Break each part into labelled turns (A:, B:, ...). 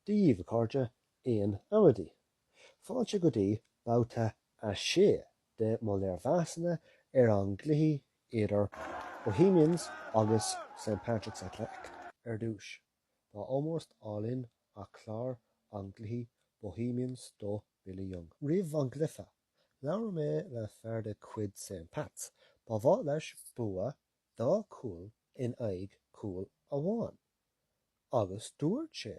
A: Daoibh, a chairde, aon amaidí? Fáilte go dtí Babhta 6 de mo léirmheasanna ar an gcluichí idir Bohemians agus St Patrick's Athletic. Ar dtúis, tá ómós álainn ar chlár an gcluiche Bohemians do Billy Young. Roimh an gcluiche, Labhair mé le fear de chuid St Pats, ba mhaith leis bua dá chúl in aghaidh cúl amháin, agus dúirt sé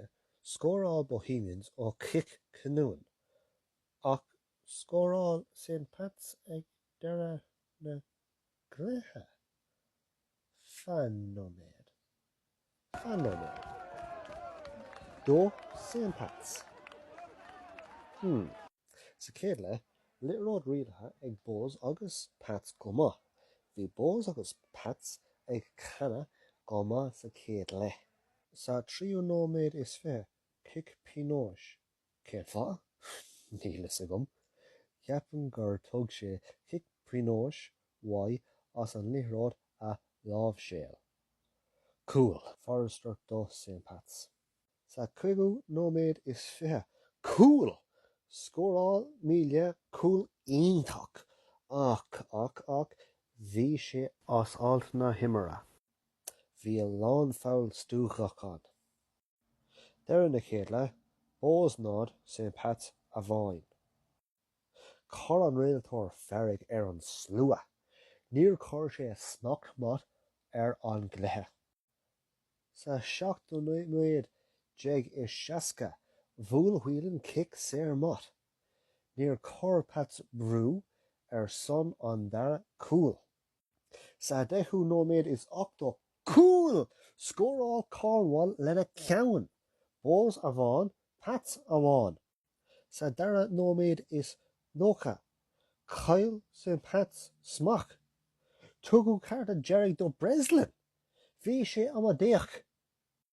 A: scóráil Bohemians ó chic cinniúin, ach scóráil St Pats ag deireadh na gcluiche. Fan nóiméad. Do St Pats. Hmm. Sa chéad leith, liathróid rialaithe ag Bohs agus Pats go maith. Bhí Bohs agus Pats ag canadh go maith sa chéad leith. Sa tríú nóiméad is fiche, cic pionóis Cén fáth? Níl fhios agam. Ceapaim gur thug sé cic pionóis uaidh as an liathróid a láimhseáil. Cúl! Forrester do Saint Pats. Sa cúigiú nóiméad is fiche. Cúl! Scóráil Melia cúl iontach. Ach, ach, ach, bhí sé as alt na himeartha. Bhí a lán foul stuaghachain. Deireadh na chéad leath, Bohs náid, St Pats amháin. Chuir an rialtóir feirg ar an slua. Níor chuir sé smacht maith ar an gcluiche. Sa seachtú nóiméad déag is seasca, bhuail Whelan cic saor maith. Níor chuir Pats brú ar son an dara cúl. Sa deichiú nóiméad is ochtó, cúl! Scóráil Cornwall lena ceann! Bohs amháin, Pats amháin. Sa dara nóiméad is nócha, chaill St Pats smacht. Tugadh cárta dearg do Breslin! Bhí sé amaideach!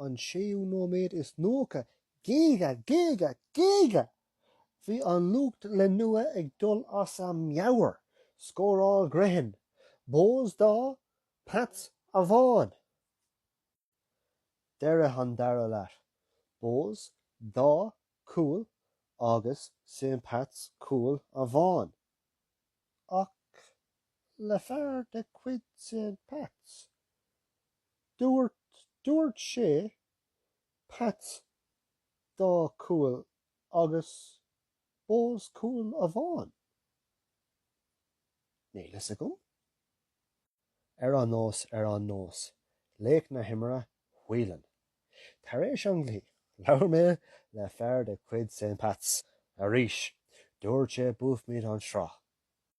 A: an séú nóiméad is nócha Géaga! Géaga! Géaga! Bhí an lucht leanúna ag dul as a meabhair. Scóráil Grehan, Bohs dá, Pats amháin. Deireadh an dara leath, Bohs dá cúl agus St Pats cúl amháin. Ach le fear de chuid St Pats, Dúirt, dúirt sé, Pats dá cúl agus Bohs cúl amháin? Níl fhios agam. Ar aon nós, ar aon nós, laoch na himeartha, Whelan. Tar éis an gcluiche, labhair mé le fear de chuid St. Pats, arís, dúirt sé buafaimid an sraith.